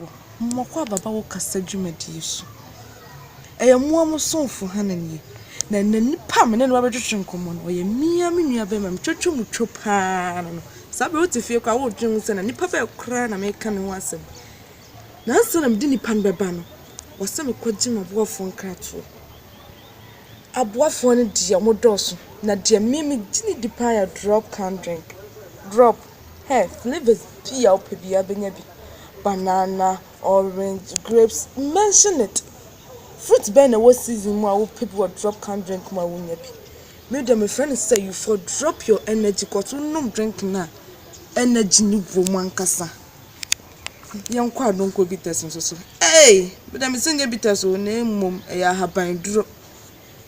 Wɔ Mmɔkɔ Ababawo Kasa Dwumadie So Ɛyɛ Mmoa Mo Somfo Hannah Nie, Na Ɛnnɛ Nipa A Me Ne No Abɛtwetwe Nkɔmmɔ No Ɔyɛ Me Ara Me Nuabarima Metwatwa Mu Two Pa Ara No No Saa Berɛ Yi Wote Fie Koraa Woredwene Ho Sɛ Na Nipa Bɛn Koraa Na Mereka Ne Ho Asɛm Na Ansa Na Mede Nipa No Bɛba No Wɔ Sɛ Mekɔgye M'aboafoɔ Nkratoɔ Aboafoɔ No Deɛ Wɔdɔɔso Na Deɛ Me Ara Megye No Di Pa Ara Yɛ Drop Can Drink Drop Hɛ, flavours pii a wopɛ biara bɛnya bi, banana, orange, grapes, mention it. Fruit bɛn na ɛwɔ season mu a wopɛ bi wɔ drop can drink mu a wonnya bi. Me deɛ mefrɛ no sɛ you for drop your energy cos wonom drink no a energy no wɔ mu ankasa. Yɛnkɔ a don't go bitters nso so. Ei! Me deɛ mese nyɛ bitters o na mmom ɛyɛ ahaban duro.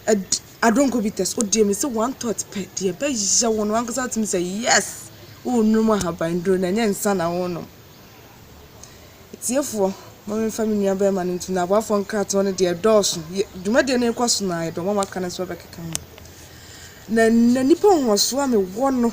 Ɛd I don't go bites wo deɛ mese one thought pɛ deɛ ɛbɛyɛ wo no wankasa wotumi sɛ yes worenom ahabanduro na ɛnyɛ nsa na worenom atiefoɔ ma memfa me nua bɛrima no nto no aboafoɔ nkratoɔ no deɛ ɛdɔɔso dwumadie no rekɔ so na ɛbɛma maka no nso bɛkeka ho na na nipa nhoɔsoɔ a mewɔ no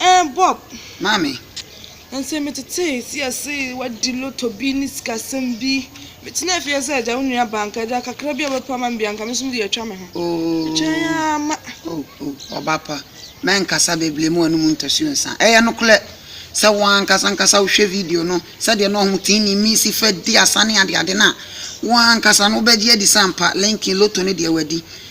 Ɛɛ Bob! Maame! Ɛnsɛ metetee si ase wadi lotto bi ne sikasɛm bi. Metenaa fie sɛ agya wo nua ba anka agya kakra bi a ɔbɛpa ma me bi anka me nso mede atwa me ho. Metwɛn ara ma. O, o, ɔba pa, mɛnkasa bebree mma w'anom ntɔsi nsa. Ɛyɛ nokorɛ sɛ wo ara ankasa ankasa wohwɛ video no sɛdeɛ na wɔn tee ne nne si fa di asa ne adeade no a, wo ara ankasa no wobɛgye adi sɛ ampa Lincoln lotto no deɛ wadi.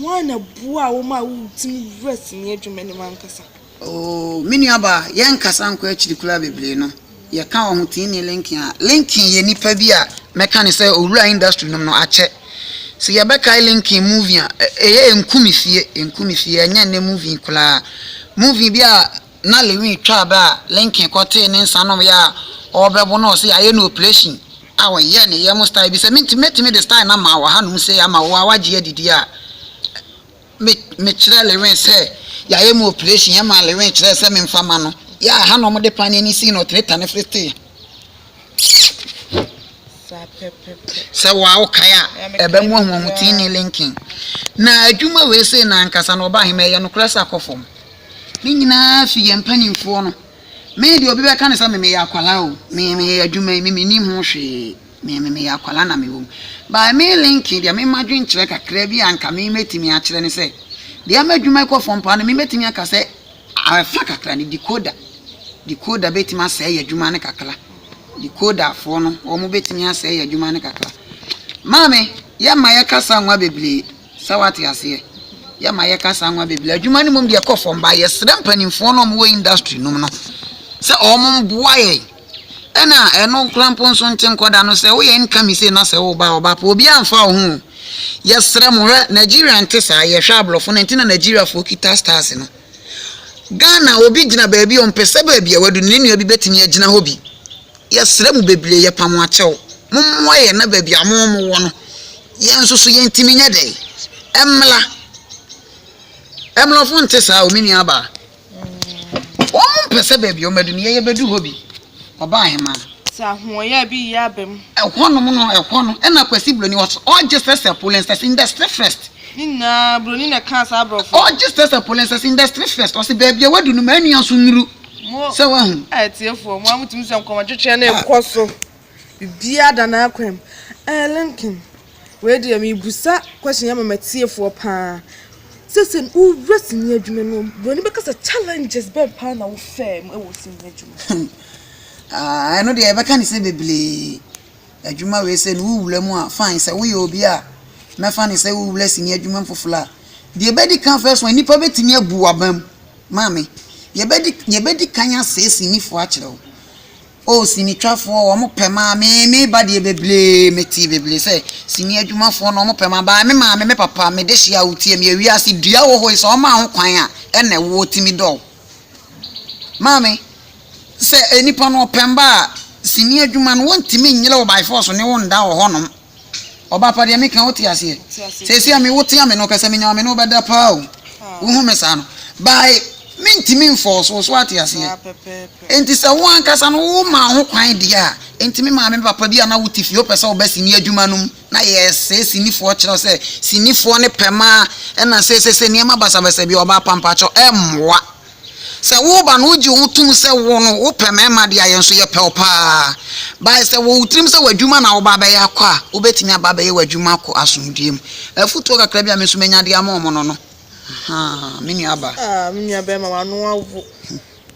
Hwan na boaa wo maa wutumi wuraa sini adwuma no mu ankasa? Oo, me nuabaa, yɛrenkasa nkɔ akyiri koraa bebree no, yɛka wɔ ho tee ne Lincoln a. Lincoln yɛ nipa bi a mɛka no sɛ owuraa industry no mu no, akyɛ. Sɛ yɛbɛkae Lincoln movie a, ɛyɛ Enku Me Fie, Enku Me Fie, ɛnyɛ nnɛ movie koraa. Movie bi a na Lewin twaa bɛ a Lincoln kɔtee ne nsa nom yɛ a ɔɔbɛbo na ɔse y'ayɛ no operation a wɔyɛɛ ne yam style bi. Sɛ me nti mɛtumi de style no ama wo hanom sei ama wo a w'agye adi deɛ a, me me kyerɛɛ Lewin sɛ y'ayɛ me operation, ɛmaa Lewin kyerɛɛ sɛ me nfa ma no, yɛ a hanom de paneɛ no sii no ɔtene tane firi stay. sɛ wa wokae a ɛbɛ mu ahoɔho tii ne linkin na adwuma wei sei na ankasa na ɔba ahema ɛyɛ nokorɛ sɛ akɔ fam ne nyinaa fi yɛn mpanimfoɔ no me deɛ obi bɛka ne sɛ memeyɛ akwala o memeyɛ adwuma yi memenim ho hwee memeyɛ akwala na mewɔ mu by me linkin deɛ mema dwenkyerɛ kakra bi a anka memɛtumi akyerɛ ne sɛ deɛ ama adwuma kɔ fam paa no memɛtumi aka sɛ Afa kakra no, decoder, decoder bɛtumi asɛe yɛn adwuma no kakra. Decoderfoɔ no, wɔn bɛtumi asɛe yɛn adwuma no kakra. Maame, yɛma yɛka saa nwa bebree, sɛ wate aseɛ. Yɛma yɛka saa nwa bebree. Adwuma no mmom deɛ ɛkɔ fam, ba yɛsrɛ mpanimfoɔ no a wɔwɔ industry nom no sɛ wɔn mmoa yɛn. Ɛna ɛno nkora mpo nso nte nkɔda no sɛ woyɛ nka me sei na sɛ wo ba ɔba po obiara mfa wo ho o. Yɛsrɛ mo hwɛ Nigeria nte saa yɛhwɛ abrɔfo no nti na Nigeria foɔ kita stars no. Ghana obi gyina baabi ɔmpɛ sɛ baabi a wadu no ne nua bi bɛtumi agyina hɔ bi. Yɛsrɛ mo bebree yɛpa mo akyɛw mo mmoa yɛn na baabi a mo mo wɔ no yɛn nso so yɛntumi nyɛ dɛn ɛmmla. Ɛmlɔfo nte saa o me nua baa. Wɔn mpɛ sɛ baabi a wɔn adu no yɛyɛ bɛdu hɔ bi. Ɔbaa hemaa no. Sɛ ahoɔyɛ bi yɛ aba mu. Ɛhɔ nom no ɛhɔ no ɛna Kwasi Broni wɔ so ɔgye sɛ sɛ pollen sɛ sɛ industry first. Ne nyinaa Broni na ɛkaa saa abrɔfo. Ɔgye sɛ sɛ pollen sɛ sɛ industry first ɔse baabi a wadu no ma anua nso nnuru. Mo sɛ wahu. A atiefoɔ mo a mo tumi sɛ nkɔmɔtwetweɛ no ɛkɔ so. Biribiara da n'akwan mu. Ɛɛ Lincoln. Wei deɛ mebusa question yi ama m'atiefoɔ paa. Sese no wowura sini adwuma mu no, buroni bɛka sɛ challenges bɛn paa na wofɛɛ mu wɔ sini adwuma mu? Ah, ɛno deɛ yɛbɛka ne sɛ bebree. Adwuma wei sɛ no wowura mu a, fine. Sɛ woyɛ obi a mɛfa ne sɛ wowura sini adwuma mu foforɔ a, deɛ ɛbɛdi kan first one, nnipa bɛtumi abu w'abam. Maame, yɛbɛdi, yɛbɛdi kan asɛe sinifoɔ akyerɛ wo. Oh sinitwafoɔ wɔn pɛ maa me me ba deɛ bebree me tee bebree sɛ sini adwumafoɔ no wɔn pɛ maa baa me maame me papa me de hyia wo tie me yɛ wiase dua wɔ hɔ yi sɛ wɔn maa ho kwan a ɛna ɛwoɔ timi dɔw maame sɛ nipa no ɔpɛn ba a sini adwuma no wɔn timi nyere wo by force ne wo nda wɔ hɔ nom Ɔba pa deɛ meka wote aseɛ Seesei a mewo tea me no pɛ sɛ menya me ne wo bɛda paa o Wohu me saa no Bae mentimi mfɔɔso wo so ate aseɛ Enti sɛ wo ankasa no wo maa ho kwan deɛ a Enti me maame me papa bi a na wote fie wopɛ sɛ woba sini adwuma no mu Na yɛsɛe sinifoɔ kyerɛ wo sɛ sinifoɔ no pɛ maa ɛna sesese nneɛma basabasa bi Ɔba pa mpakyɛw ɛmmoa Sɛ wo ba no wogye wo tom sɛ wo no wopɛ mmarima deɛ a, yɛn nso yɛpɛ wo pa ara. Bae sɛ wɔ wo tirim sɛ w'adwuma na woba abɛyɛ akɔ a, wobɛtumi aba abɛyɛ w'adwuma akɔ asomdwoeɛ mu. Afotuo kakra bi a me nso manya de ama wɔn no no. Ahaa, me nuabaa. Ah, me nuabarima, w'ano awo.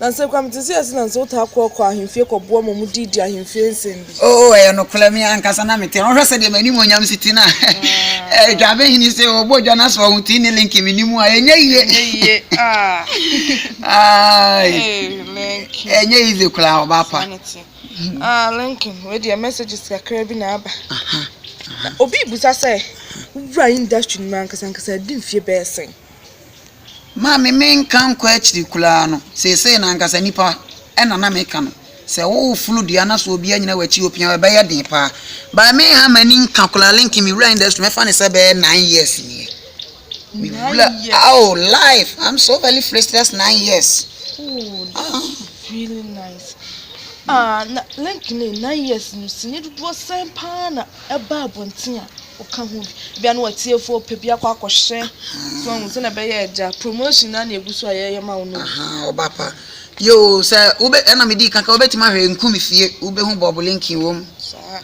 Nanso, Kwame, te sɛ yɛn ase na ansa wotaa kɔɔ kɔɔ ahemfie kɔboa ma wɔdii dii ahemfie nsɛm. Oo, ɛyɛ nokorɛ, me ankasa na mete hɔ. Wohwɛ sɛdeɛ m'animuonyam si te no a, Dwabehene sɛ ɔbɔ dwa no sɛ ɔho te ne Linky me ne mu a, ɛnyɛ yie. Ɛnyɛ easy koraa, ɔbaa pa. Linky, wei deɛ messages kakra bi na aba. Obi rebusa sɛ, wowura industry no mu ankasa ankasa a, ɛdi mfeɛ bɛyɛ sɛn? Ma me menka nkɔ akyiri koraa no, seesei no ankasa nnipa na na meka no. Sɛ woreforo dua na sɛ obi anyina w'akyi opia wo a, ɛbɛyɛ den paa. But menha m'ani nka koraa, Lincoln, mewura industry no mɛfa no sɛ ɛbɛyɛ nine years nie. Mewura, oh, life, I'm so very frustrated nine years. Oh, that's ah. really nice. Ah, na Lincoln, nine years no, sini dodoɔ sɛn paa na ɛba abɔnten a Ɔka ho bi. Ebia na w'atiefo pɛ bi akɔ akɔhyɛ. So wɔn hu sɛnea ɛbɛyɛ agya. Promotion na na egu so a yɛyɛ ma wo no. Ahaa ɔba pa. Yoo sɛ wobɛ ɛna me dii kan ka wobɛtumi ahwɛ nku me fie wobɛhu Bob Lincoln wɔ mu. Saa.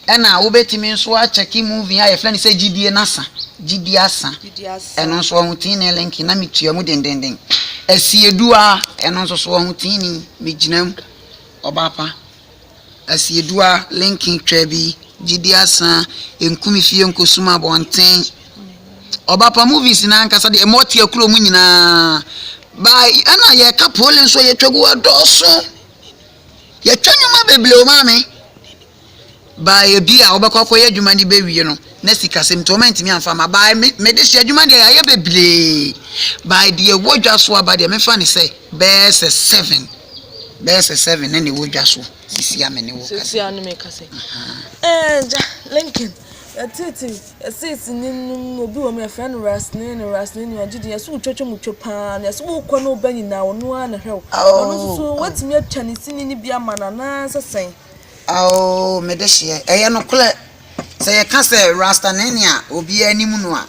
Ɛna wobɛtumi nso akyɛke movie a yɛfrɛ no sɛ gyidie no asa gyidie asa. Gyidie asa. Ɛno nso wɔn ho tiinii Lincoln na me tua mu dendenden. Asiedu a ɛno nso so wɔn ho tiinii me gyina mu ɔba pa. Asiedua, Linkin twa bi, gyidi asa, nku me fie nko sum abɔnten. Ɔba pa movies no ankasa deɛ ɛmɔ tia kuro mu nyinaa. Ba ɛna yɛka pole nso yɛtwa gu ɛdɔɔso. Yɛtwa nnwuma bebree o maame. Ba ebi a wɔbɛkɔ akɔyɛ adwuma no bɛwie no na sikasɛm nti wɔn ntumi amfa ma. Ba mede hyɛ adwuma deɛ yɛayɛ bebree. Ba deɛ ɛwɔ dwa so aba deɛ mefa ne sɛ. Bɛyɛ sɛ seven, bɛyɛ sɛ seven na na ɛwɔ dwa so sisi a me ne wo kasa. Sisi a ne me kasa. Ɛɛ gya Lincoln yɛtete yɛsisi ne num obi wɔ mu yɛfrɛ no rasne ne rasne ni ɔgye di yɛsɛ wotwatwa mu twa paa na yɛsɛ wokɔ ne woba nyinaa ɔno ara na hwɛ wo ɔno nso so watumi atwa ne sini no bi ama no anaasɛ sɛn. Ao mede hyeɛ ɛyɛ nokorɛ sɛ yɛka sɛ rasta ne ne a obiara anim no a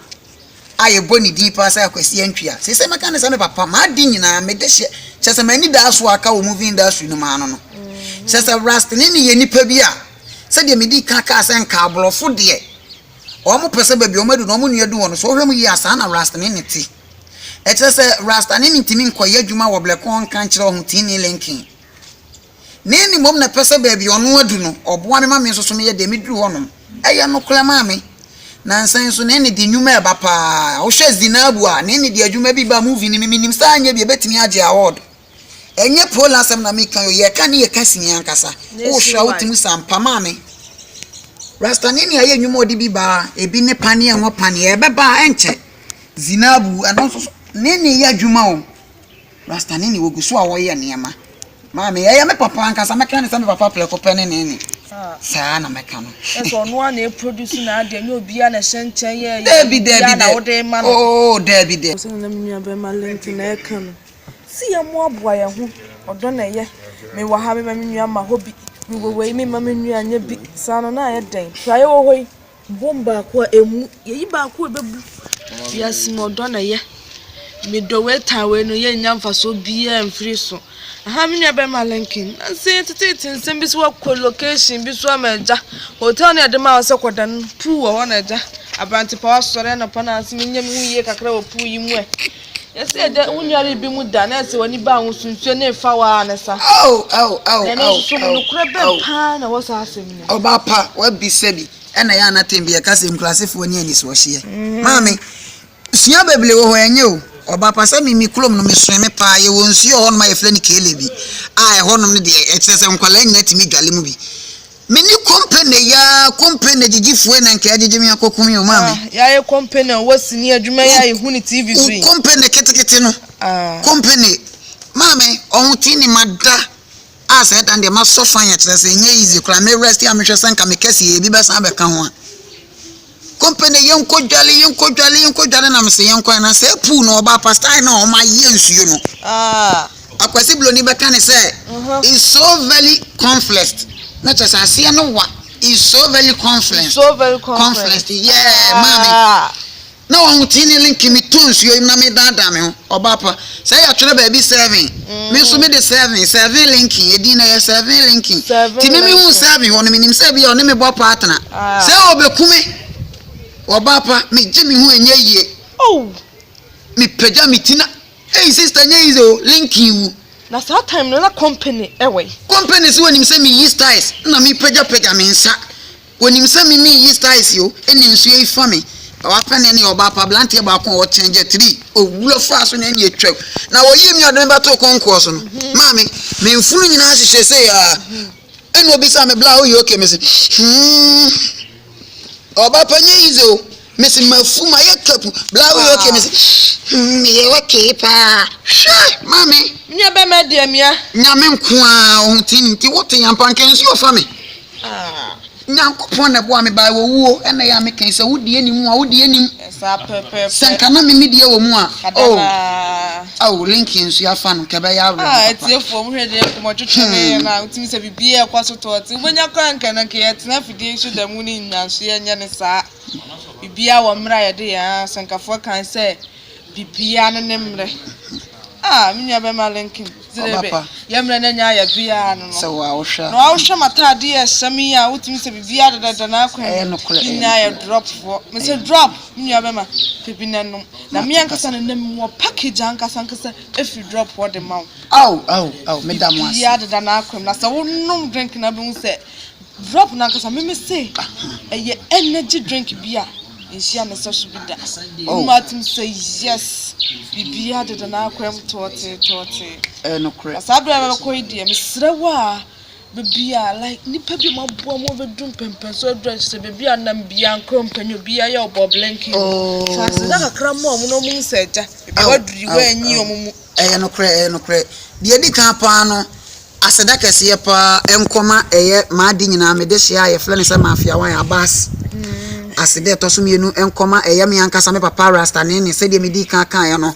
a yɛbɔ ne din paa sɛ Kwasi Antwia. Seesei mɛka no sɛ me papa, m'ade nyinaa, me dehyeɛ. Kyerɛ sɛ m'anidasoɔ a aka wɔ movie industry no mu ara no no. Kyerɛ sɛ Rastani no yɛ nipa bi a, sɛdeɛ medii kan kaa sɛ nka aborɔfo deɛ, wɔpɛ sɛ baabi a wɔadu no, wɔn nua du hɔ no, sɛ wohwɛ mu yie a, saa na Rastani no te. Ɛkyerɛ sɛ Rastani no ntumi nkɔyɛ adwuma wɔ Blɛkɔɔ nka nkyerɛ Ɔhoteeni Lincoln. Me ne mmom na ɛpɛ sɛ baabi a ɔno adu no, ɔboa me ma me nso so meyɛ dɛn meduru hɔnom. Ɛyɛ nokorɛ, Maame. Nansa yi nso, ne nne de nnwuma reba pa ara. Wohwɛ Zinabu a, ne nne de adwuma bi ba movie no mu. Mennim sɛ anyɛ bi a, ɛbɛtumi agye awɔɔdo. Ɛnyɛ Paul asɛm na mereka yi o, yɛka ne yɛ ka sini ankasa. Wohwɛ a, wotumi sa mpa, Maame. Rastani ne ayɛ nnwuma a ɔde bi ba a, ebi ne paneɛ, ngo paneɛ. Ɛbɛba a, ɛrenkyɛ. Zinabu, ɛno nso so, ne nne yɛ adwuma o. Rastani ne wɔgu so a wɔyɛ nneɛma. Maame, ɛyɛ me papa ankasa, mɛka ne sɛ me papa prɛko pɛ ne ne ne. Saa na mɛka no. Ɛsɛ ɔno a na ɛproduce na adeɛ, nyɛ obiara na ɛhyɛ nkyɛn yɛ yɛ Daabi, daabi, obiara na daabi. wode ma no. Oo, daabi, daabi. Sɛnea na me nuabarima Linton reka no, Se yɛmmoaboa yɛn ho, ɔdɔ na ɛyɛ. Mewɔ ha, memma me nua mma hɔ bi. Mewɔ wei, memma me nua nyɛ bi. Saa no, na ayɛ dɛn? Hwɛ a yɛwɔ hɔ yi. Bom baako a ɛmmu. Yɛyi baako a ɛbɛbu. Wiase mu ɔdɔ na ɛyɛ. Medɔ wei tan wei no yɛnnya mfasoɔ biara mfiri so. Aha me nua bɛrima Lincoln. Nansa yi teteete nsɛm bi sɛ woakɔ location bi so ama agya. Hotel no a yɛde maa wo sɛ kɔda no pool wɔ hɔ na agya. Aberante pa wo asɔre anɔpa na ase menyɛ me ho yie kakra wɔ pool yi mu ɛ. Yɛse yɛ dɛ wonua re bi mu da na ɛse wani baa ho so nsuo ne fa waa ne sa. Ao ao ao ao. Na ɛno nso mu nokorɛ bɛ paa na wɔ saa asɛm no mu. Ɔbaa pa wabisa bi ɛna ɛyɛ a na tɛn bi yɛka sɛ nkurasefoɔ ni anisoɔ hyeɛ. Maame sua beblee wɔ hɔ ɛnyɛ o. Ɔbaa pa sɛ me me kulom no me soɛ me paa yɛ wɔ nsuo wɔ hɔ nom a yɛfrɛ no keele bi a ɛhɔ nom no deɛ ɛkyerɛ sɛ nkwadaa nyina tumi dwale mu bi. Me ne kompene ya kompene gyigyifoe na nka yɛagyegye me akɔ komm yɛ ɔmaa me. Ah, yɛayɛ kompene a wɔ sini adwuma yi a yɛhu no TV so yi. Kompene ketekete no. Ah. Kompene. Maa me ɔho twi ne mada a saa dan deɛ masɔ fan yɛ kyerɛ sɛ ɛnyɛ easy koraa me rest a mehwɛ sɛ nka me kɛse yɛ ebi bɛsan abɛka ho a. Company yɛnkɔ dwale yɛnkɔ dwale yɛnkɔ dwale na mese yɛnkɔ na sɛ pool no ɔbaa pastor na ɔma yɛ nsuo no. Ah. Akwasi Broni bɛka ne sɛ is so very conflict na kyɛ sɛ aseɛ no wa is so very conflict. So very conflict. Conflict yeah maame. Na wɔn tee ne link me tɔ nsuo yi na me daadaa me ho. Ɔba pa. Sɛ yɛtwerɛ baabi Seven, me nso me de Seven, Seven Lincoln, edin no ɛyɛ Seven Lincoln. Nti me mehuu Seven hɔ no, menim sɛ ebia ɔne me bɔ partner. Sɛ ɔbɛku me. Ɔba pa, megye me ho ɛnyɛ yie. Mepagya me ti na, Ei sister ɛnyɛ easy o, Lincoln wu. Na saa time no na company ɛwɔ he? Company sɛ wɔnim sɛ meyi styles na mepagyapagya me nsa. Wɔnim sɛ me ne Yeast Ice o, ɛna nsuo yi fa me. Na w'afɛ ne ɛne ɔbaa pa, abranteɛ baako a ɔkyɛn gyɛ tiri. Owura faa so na ɛne atwam. Na wɔyii me a ɔde me bɛtoo kɔnkɔɔ so no, maame, me mfunu nyinaa hyehyɛ sei aa. Ɛna ɔbisaa me bla a, woyɛ okay? Mese, hmm, ɔbaa pa nyɛ easy o. Mese, mafu, mayɛ kapu. Bla a, woyɛ okay? Mese, hmm, meyɛ okay paa. Hwɛ, maame. Nua bɛma deɛ mia. Nyame nko ara, ɔho ti nti wote ampa, nka nsuo fa me. Ah! Nyankopɔn na ɛboaa me baa owuo, ɛna ɛyɛ a me kae sɛ, Wo deɛ nim mu a, Wo deɛ nim. Saa pɛpɛpɛ. Sɛ nka na me me deɛ wɔ mu a, oh! Adanaa. Oh, link yɛ nso yɛafa no, nka ɛbɛyɛ awerɛho papa. Ah, atiefoɔ, mo hwɛ deɛ nkɔmɔ twetwe me yɛ no a, wotumi sɛ biribiara ɛkɔ so tɔɔte. Wobɛnya koraa nka na nka yɛtena afidie yi so da mu ne nyinaa nso yɛnyɛ no saa. Biribiara wɔ mmerɛ a yɛde yɛn asenkafo kae sɛ Biribiara no ne mmerɛ. Ah, me nua bɛma Lincoln. Ɔba pa. Yɛ mmerɛ na nya yɛ biara no no. Sɛ wo a wohwɛ a. Na wohwɛ m'ataadeɛ a ɛhyɛ me yi a, wotumi sɛ biribiara dɛdɛdɛ na akwan. Ɛyɛ nokorɛ. Me nua yɛ drop foɔ. Me sɛ drop, me nua bɛma, pɛ bi na nom. Na me ankasa na nam wɔ package ankasa ankasa ɛfiri drop hɔ de ma wo. Ao, ao, ao, meda mo ase. Biribiara deda n'akwan mu. Na sɛ wonom drink no a, wobɛhu sɛ. Drop no ankasa me me se ɛyɛ energy drink bi a nhyia ne sɛso bi da. Oh. Ɔmo atum sɛ yes biribiara deda n'akwan mu tɔɔtee tɔɔtee. Ɛyɛ nokorɛ. Na saa bere a mɛkɔ yi deɛ mesrɛ wo a baabi a like nipa bi a wɔaboa mu abɛdu mpɛmpɛnso aduru akyɛ sɛ baabi a nam bia nkorɔ mpɛnyɛ obiara yɛ ɔbɔ blinking. Oh. So aseda kakra mma ɔmo na ɔmo hu sɛ agya ebi Aw, waduru yi aw, wɔanyi aw. ɔmo mu. Ɛyɛ nokorɛ, ɛyɛ nokorɛ. Deɛ ɛdi kan paa no, Aseda kɛseɛ paa nkɔ ma ɛyɛ maade nyinaa me dehyeɛ a yɛfrɛ no sɛ Mafiawan Abass. Aseda a ɛtɔ so mmienu nkɔ ma ɛyɛ me ankasa me papa Rasta Nene sɛdeɛ medii kan kaeɛ no.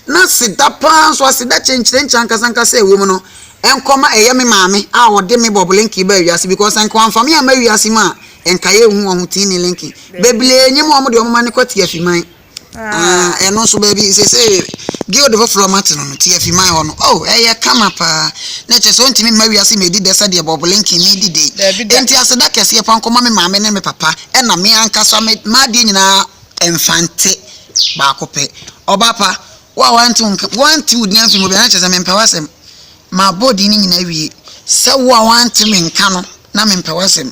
Na aseda paa nso, aseda kyenkyerenkye ankasa ankasa a ɛwɔ mu no nkɔ ma ɛyɛ me maame a ɔde me Bob Linky baa wiase because sɛ nka wamfa me amma wiase mu a nka yɛnhu wɔn ho Tini Linky. Bebree nyim wɔn deɛ wɔn mma no kɔ Tiafiman. Ah, ɛno nso baabi sesei guild foforɔ mate no no ti afi man hɔ no oh ɛyɛ kama paa na ɛkyɛ sɛ ɔntumi mma wiase mɛdi dɛ sɛdeɛ bɔbolenke medi dɛ enti aseda kɛseɛ pa nkɔma me maame ne me papa ɛna me ankasa me maadeɛ nyinaa mfante baako pɛ ɔba pa wo a wante wo nka wante wo din afi mu bia na kyɛ sɛ mempɛ w'asɛm mabɔ din no nyinaa wie sɛ wo a wante me nka no na mempɛ w'asɛm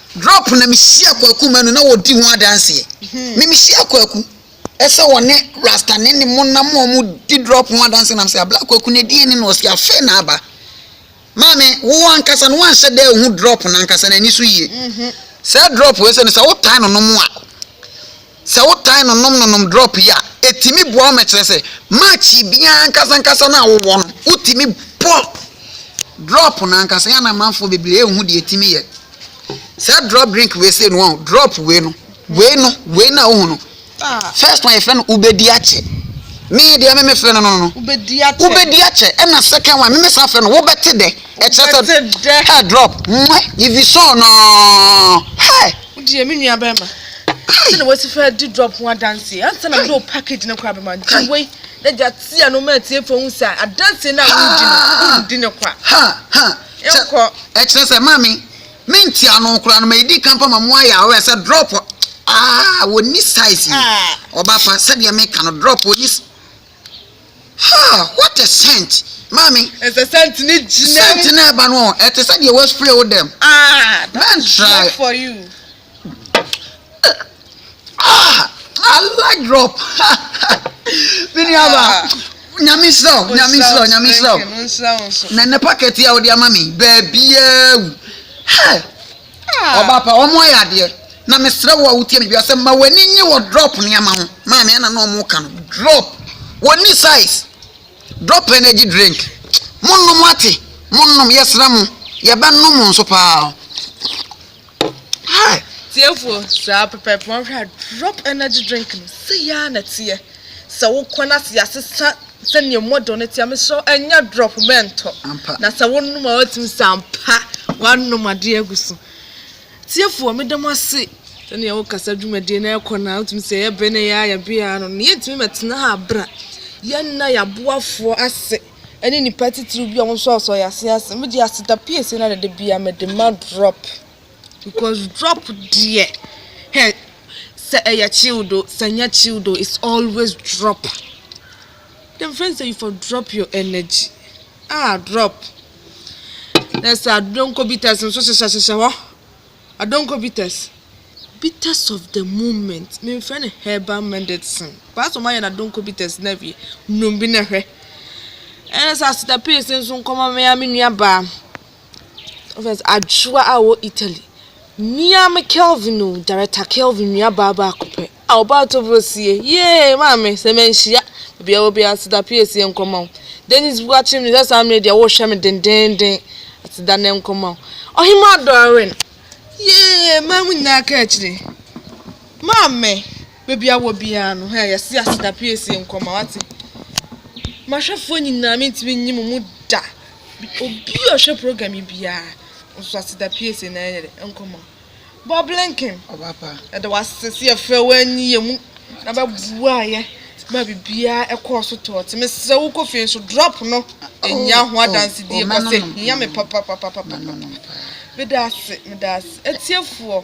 Drop na mehyia kwaku manu na wɔdi ho adanseɛ me mehyia kwaku ɛsɛ wɔne rasta ne ne mo nam wɔn di drop ho adanseɛ nam sɛ abla kwaku na ɛdi ɛne na ɔsi afɛ na aba maame wo ankasa no wanhyɛ dɛ hu drop na ankasa na ani so yie sɛ drop wei sɛ no sɛ wotae no nom a Sɛ wotae nonom nonom drɔp yi a, ɛtumi boa wo ma kyerɛ sɛ match biara ankasa ankasa no a wowɔ no, wotumi bɔ drɔp no ankasa. Ɛyɛ a na amanfoɔ bebree nhu deɛ ɛtumi yɛ saa drɔp drink wei sei no, wɔn drɔp wei no, wei no, wei no a wohu no, first one yɛfrɛ no wobɛdi akyɛ. Me deɛ me mefrɛ no no no, wobɛdi akyɛ, ɛna second one me mesa frɛ no wobɛte dɛ, ɛkyerɛ sɛ ɛ drɔp, mwɛ, ivisɔn no, hɛ. Wodeɛ me nua bɛrima sɛdeɛ wasi fɛ di drop ho adanseɛ ansa na mede wo package no koraa bɛma gye wei na gya tia no ma atiefoɔ hu sɛ adanseɛ no a wodi no wondi no kwa yɛnkɔ ɛkyerɛ sɛ maame mentia no koraa no ma ɛdi ka mpa ma mo ayɛ awɛ sɛ drop aa wɔni size yi ɔba fa sɛdeɛ meka no drop wɔni Ha! What a scent! Maame. Ɛsɛ scent ne gyina. Scent na ɛba no ɔ, ɛte sɛ deɛ wɔaspray wo dɛm. Ah, that is not for you. Ah, I like drop. Me nuaba. Nyame nhyira wo, nyame nhyira wo, nyame nhyira wo. Na ne packet a wode ama me, baabiaa wu. Hey! Ɔbaa pa, wɔn ayɛ adeɛ. Na mesrɛ wo a wotie me biara sɛ ma w'ani nye wɔ drop nneɛma ho. Maame ɛna na wɔn ka no drop. Wɔnni size. Drop energy drink. Monnom ate. Monnom yɛsrɛ mo. Yɛbɛnom nso paa. Hi. Tiefoɔ saa pɛpɛɛpɛ wɔn hwɛ a drop energy drink no sɛ yaa na teɛ. Sɛ wo kɔn ase asesa sɛnea mu ɔdɔ no teɛ, mesrɛ wo ɛnyɛ drop bɛ ntɔ. Na sɛ wo nom a watumi sɛ ampa wanom adeɛ agu so. Tiefoɔ meda mo ase sɛnea wo kasa dwumadie no ɛkɔ no a wotumi sɛ yɛ bɛ na yɛ a yɛ bɛ a no. Na yɛntumi mɛtena ha abra. Yɛnna yɛ aboafoɔ ase ɛne nipa titiriw bi a wɔn nso asɔ yɛ ase ase. Megye aseda piesie na dada biara mede ma drop. Because drop deɛ hɛ sɛ ɛyɛ chilled oo sɛ ɛnyɛ chilled oo it's always drop. Dem friend sɛ you for drop your energy ah drop na ɛsɛ adonko bitters nso hyehyɛ hyehyɛ hɔ adonko bitters bitters of the moment me nfrɛ no herbal medicine paa sɛ ɔmo ayɛ no adonko bitters na awie nom bi na hwɛ ɛna sɛ asitapis nso nkɔma me ara me nua baa. Ɔfɛs adwowa a ɔwɔ Italy. Mmea me Kelvin o, Director Kelvin nuabaa baako pɛ. A ɔbaa tɔbro sie. Yee, maame, sɛ manhyia. Baabi a ɛwɔ biara, aseda pii esie nkɔma wo. Dennis Buakyem nim sɛ saa mmere deɛ wohwɛ me dendeenden. Aseda nɛ nkɔma wo. Ɔhemaa Doreen. Yee, mmaa mu nyinaa ka akyire. Maame, Baabi a wɔ biara no, hɛ, yɛse aseda piesie nkɔma, wate. M'ahwɛfoɔ nyinaa, mentumi nyi mo mu da. Obi a ɔhwɛ program yi biara, nso aseda piesie na ɛyɛ dɛ, nkɔma. Bob Blinken, yɛda wase sɛ yɛfrɛ wo anyi yɛ mu, na bɛboa yɛ, ma biribiara ɛkɔɔ so tɔɔ te. Mesrɛ wo kɔ fie nso, drop no, ɛhia ho adansedie, kɔsɛ hia me papapapapapa. Meda ase, meda ase. Atiefoɔ,